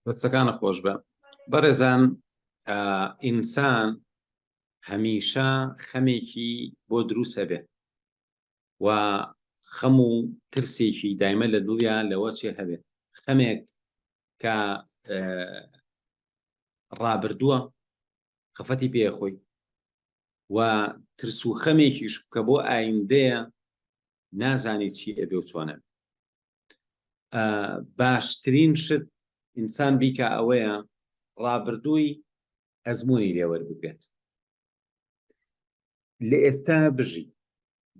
دەستەکانە خۆش بە بەڕێزان ئینسان هەمیشە خەمێکی بۆ دروسە بێ و خەم و ترسێکی دایمە لە دڵیا لەوە چێ هەبێت خەمێک کە ڕابردووە خەفەتی پێ خۆی و ترس و خەمێکیش بکە بۆ ئایندەیە نازانی چی ئەبێ و چۆنە باشترین شت ئینسان بیکە ئەوەیە ڕابردووی ئەزمموی لێوەربگرێت لە ئێستا بژی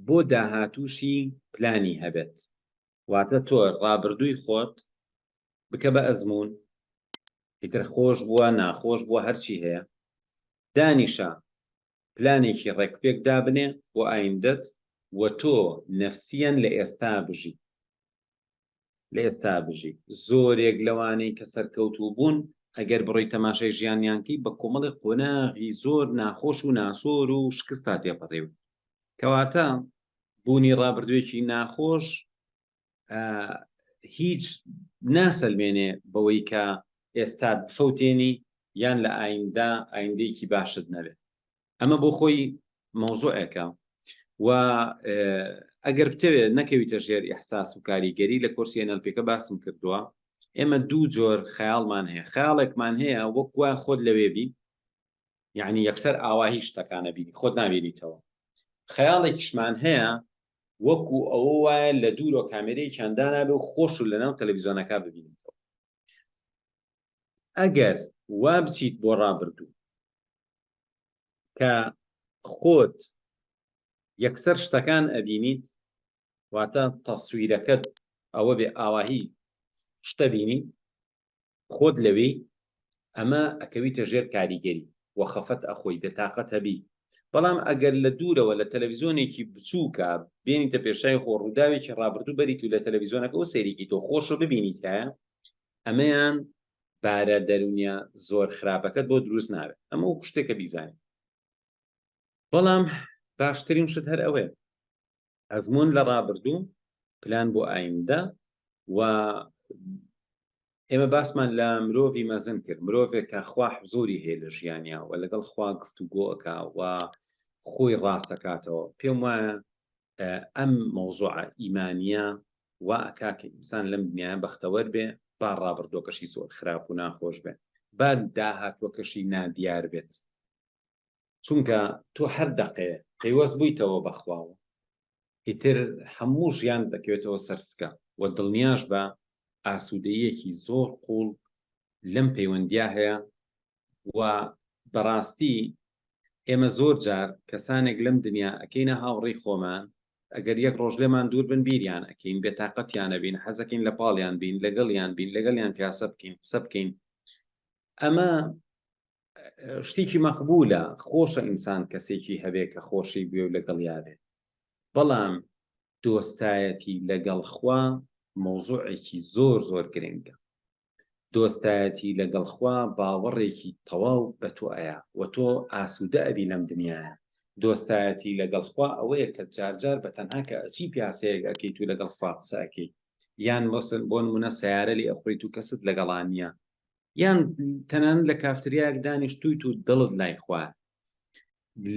بۆ داهاتووشی پلانی هەبێت واتە تۆ ڕابردووی خۆت بکە بە ئەزمون ئیتر خۆش بووە ناخۆش بووە هەرچی هەیە دانیشە پلانێکی ڕێکوپێک دابنێ بۆ ئایندەت و تۆ نەفسیەن لە ئێستا بژی لە ئێستا بژی زۆرێک لەوانەی کە سەرکەوتوو بوون ئەگەر بڕۆی تەماشای ژیانیانکەی بە کۆمەڵی قۆناغی زۆر ناخۆش و ناسۆر و شکستا تێپەڕێوی کەواتە بوونی ڕابردوێکی ناخۆش هیچ ناسەلمێنێ بەوەی کە ئێستا بفەوتێنی یان لە ئایندە ئایندەیەکی باشت نەبێت ئەمە بۆ خۆی مەوزوعێکە و ئەگەر بتەوێت نەکەویتە ژێر ئحساس و کاریگەری لە کۆرسی ئەنەلپێکە باسم کردووە ئێمە دوو جۆر خەیاڵمان هەیە خیاڵێکمان هەیە وەکوە خۆت لەوێبی یعنی یەکسەر ئاوا هیچ شتەکانە بینی خۆت نابینیتەوە خەیاڵێکیشمان هەیە وەکو ئەوە وایە لە دوورۆ کامێرەی چندانابێ و خۆش و لەناو تەلەڤزیۆنەکە ببینیتەوە ئەگەر وا بچیت بۆ ڕابردوو کە خۆت یەکسەر شتەکان ئەبینیت واتە تەسویرەکەت ئەوە بێ ئاواهی شتە بینیت خۆت لەوێی ئەمە ئەکەویتە ژێر کاریگەری و خەفەت ئەخۆی بێتاقەت هەبی بەڵام ئەگەر لە دوورەوە لە تەلەڤزیۆنێکی بچووکە بێنیتە پێشای خۆ ڕووداوێکی ڕابردوو بەریت و لە تەلەڤزیۆنەکە و سەیرێکی تۆ خۆشە ببینیتایە ئەمەیان بارە دەرونیا زۆر خراپەکەت بۆ دروست ناوێت ئەمە و شتێکە بیزانین بەڵام باشترین شت هەر ئەوەیە ئەزموون لە ڕابردوو، پلان بۆ ئایندە و ئێمە باسمان لە مرۆڤی مەزن کرد، مرۆڤێک کە خوا حزوری هەیە لە ژیانیا و لەگەڵ خوا گفتوگۆ ئەکا و خۆی ڕاست ئەکاتەوە، پێم وایە ئەم مەوزوعە ئیمانییە وا ئەکا کە ئینسان لەم دنیایە بەختەوەر بێ، با ڕابردووەکەشی زۆر خراپ و ناخۆش بێ، با داهاتووەکەشی نادیار بێت. چونکە تۆ هەر دەقێ پەیوەست بوویتەوە بەخواوە ئیتر هەموو ژیان دەکەوێتەوە سەرسکە و دڵنیاش بە ئاسوودەیەکی زۆر قوڵ لەم پەیوەندیا هەیە و بەڕاستی ئێمە زۆر جار کەسانێک لەم دنیا ئەکەینە هاوڕی خۆمان ئەگەر یەک ڕۆژ لێمان دوور بن بیریان ئەکەین بێتاقەتیانە بین حەزەکەین لە پاڵیان بین لەگەڵیان بین لەگەڵیان پیاسە بکەین قسە بکەین ئەمە شتیکی مەقبولە خۆشە ئینسان کەسێکی هەبێ کە خۆشی بوێ و لەگەڵیا بێ بەڵام دۆستایەتی لەگەڵ خوا مەوزوعێکی زۆر زۆر گرنگە دۆستایەتی لەگەڵ خوا باوەڕێکی تەواو بە تۆ ئەیە و تۆ ئاسوودە ئەبی لەم دنیاە دۆستایەتی لەگەڵ خوا ئەوەیە کە جارجار بە تەنها کە ئەچی پیاسەیەک ئەەکەی تو لەگەڵ خوا قسەکەی یان مەسن بۆن منە سیارە لێ ئەخۆی تو کەست لەگەڵانە یان تەنان لە کافتریاک دانیشتویت و دڵت لای خوار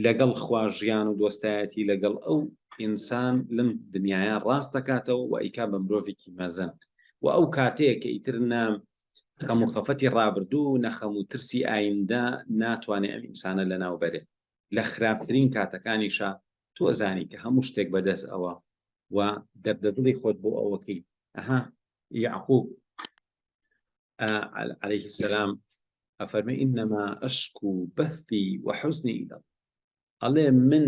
لەگەڵ خوا ژیان و دۆستایەتی لەگەڵ ئەو ئینسان لەم دنیاە ڕاست دەکاتەوە و ئەیکا بە مرۆڤێکی مەزن و ئەو کاتەیە کە ئیتر نام خەم و خەفەتی ڕابردوو و نەخەم و ترسی ئایندە ناتوانێت ئەم ئینسانە لە ناو بەرێت لە خراپترین کاتەکانیشە تۆ زانی کە هەموو شتێک بەدەست ئەوە و دەردەدڵی خۆت بۆ ئەوەکەی ئەها یعقوب عليه السلام ئەفەرمە ئینەما ئەشک و بەستی وەحزنی ئیدەڵ ئەڵێ من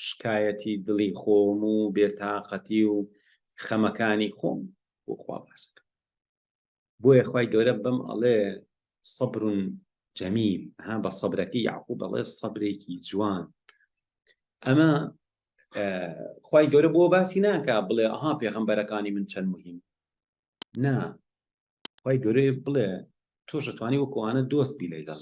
شکایەتی دڵی خۆم و بێتاقەتی و خەمەکانی خۆم بۆ خوا باسەکە بۆیە خی گەورە بم ئەڵێ سەبرون جەمیل ها بە سەبرەکەی یاقوب بەڵێ سەبرێکی جوان ئەمە خی گەورە بۆ باسی ناکە بڵێ ئەها پێغمبەرەکانی من چەند مهم نا خوای گەورەی بڵێ تۆش ئەتوانی وەکو ئەوانە دۆست بی لەیگەڵ